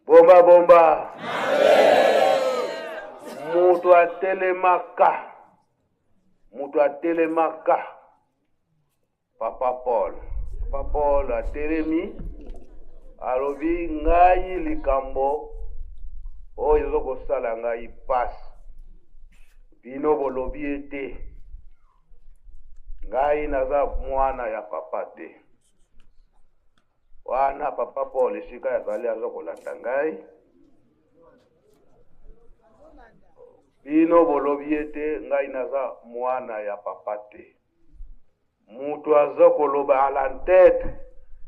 bomba bomba moto atelemaka moto atelemaka papa paul papa paul atelemi alobi ngai likambo oyo ezo kosala ngai mpasi bino bolobi ete ngai naza mwana ya papa te wana papa paul esika azali aza kolanda ngai bino bolobi ete ngai naza mwana ya papa te moto aza koloba a la tete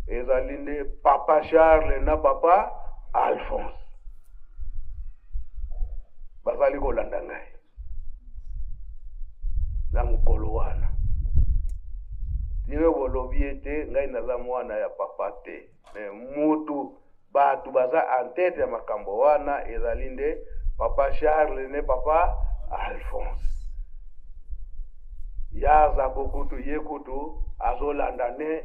ezali nde papa charles na papa alphonse bazali kolanda ngai na mokolo wana lelo bolobi ete ngai naza mwana ya papa te me mutu bato baza entete ya makambo wana ezali nde papa charles ne papa alphonse ya aza kokutu ye kutu azolanda ne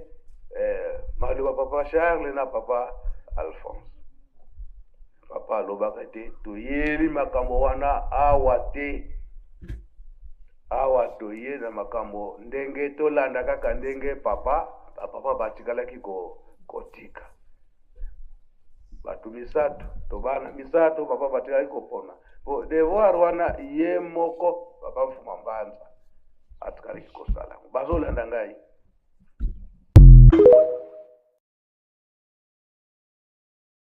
eh, maloba papa charles na papa alphonse papa alobaka te toyebi makambo wana awa te awa toye na makambo ndenge tolanda kaka ndenge papa bapapa batikalaki kotika ko bato misato to bana misato papa batikalaki kopona po devoir wana ye moko papa mfuma mbanza atikalaki kosala bazolanda ngai